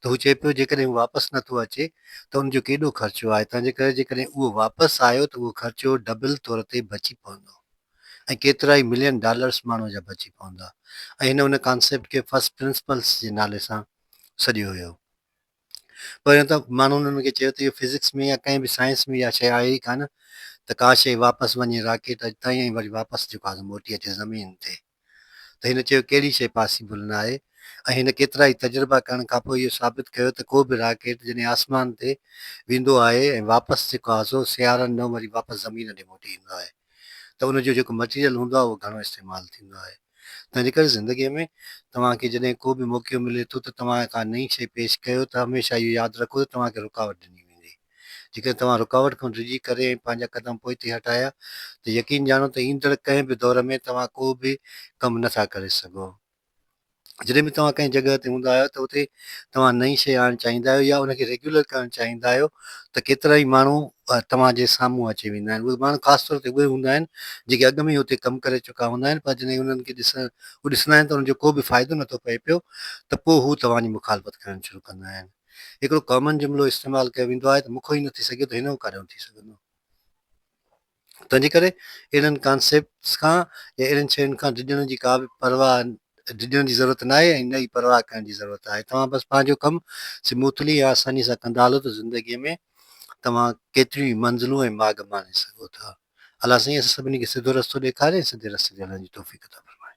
ته هو چئي پيو جيڪڏهن هو واپس نه ٿو اچي ته ان جو ڪيڏو خرچو آهي تنهنجي ڪري جيڪڏهن اهو واپس آيو ته اهو خرچو ڊبل طور تي بچي پوندو ۽ ڪيترائي ملين ڊالرس ماڻهوء جا بچي پوندا ۽ هن ان ڪانسيپٽ کي فرسٽ پرنسپلس جي نالي سان سڏيو هيو پهريون ته ماڻهن ان کي چيو ته اهو فزڪس ۾ يا ڪنهن به سائنس ۾ اها شيء آهي ئي ڪانه ته ڪا شيء واپس وڃي راڪيٽ تائين ۽ وري واپس جيڪو آهي سو موٽي اچي زمين تي ته هن چيو ڪهڙي شيء پاسيبل نه آهي ۽ هن ڪيترائي تجربا ڪرڻ کان پوء اهو ثابت ڪيو ته ڪو به راڪيٽ جڏهن آسمان تي ويندو آهي ۽ واپس جيڪو آهي سو سيارن نو وري واپس زمين ڏي موٽي ايندو آهي ته ان جو جيڪو مٽيريل هوندو آهي اهو گهڻو استعمال ٿيندو آهي تنهن جي ڪري زندگي ۾ توهان کي جڏهن ڪو به موقعو ملي ٿو ته توهان ڪا نئين شيء پيش ڪيو ته هميشه اهو ياد رکو ته توهان کي رڪاوٽ ڏني ويندي. جيڪڏهن توهان رڪاوٽ کان ڊڄي ڪري ۽ پنهنجا قدم پوئتي هٽايا ته يقين ڄاڻو ته ايندڙ ڪنهن به دور ۾ توهان ڪو به ڪم نه ٿا ڪري سگهو. جڏهن به توهان ڪنهن جڳهه تي هوندا آهيو ته اتي توهان نئين شيء آڻڻ چاهيندا آهيو يا ان کي ريگيولر ڪرڻ چاهيندا آهيو ته ڪيترائي ماڻهو توهان جي سامهون اچي ويندا آهن. اهي ماڻهو خاص طور تي اهي هوندا آهن جيڪي اڳ ۾ ئي اتي ڪم ڪري چڪا هوندا آهن پر جڏهن انهن کي ڏسڻ هو ڏسندا آهن ته انهن جو ڪو به فائدو نه ٿو پئي پيو ته پوء هو توهان جي مخالفت ڪرڻ شروع ڪندا آهن. هڪڙو ڪامن جملو استعمال ڪيو ويندو آهي ته مون کان هي نه ٿي سگهيو ته هن کان ڪڏهن ٿي سگهندو. تنهنجي ڪري اهڙن ڪانسيپٽس کان يا اهڙين شين کان ڊڄڻ جي ڪا به پرواهه ڊڄڻ جي ضرورت ناهي ۽ نه ئي پرواهه ڪرڻ جي ضرورت آهي. توهان بس پنهنجو ڪم سموٿلي ۽ آساني سان ڪندا هلو ته زندگي ۾ توهان ڪيتريون ئي منزلون ۽ ماڳ ماڻي سگهو ٿا. الله سائين اسان سڀني کي سڌو رستو ڏيکاري ۽ سڌي رستي تي هلڻ جي توفيق عطا فرمائي.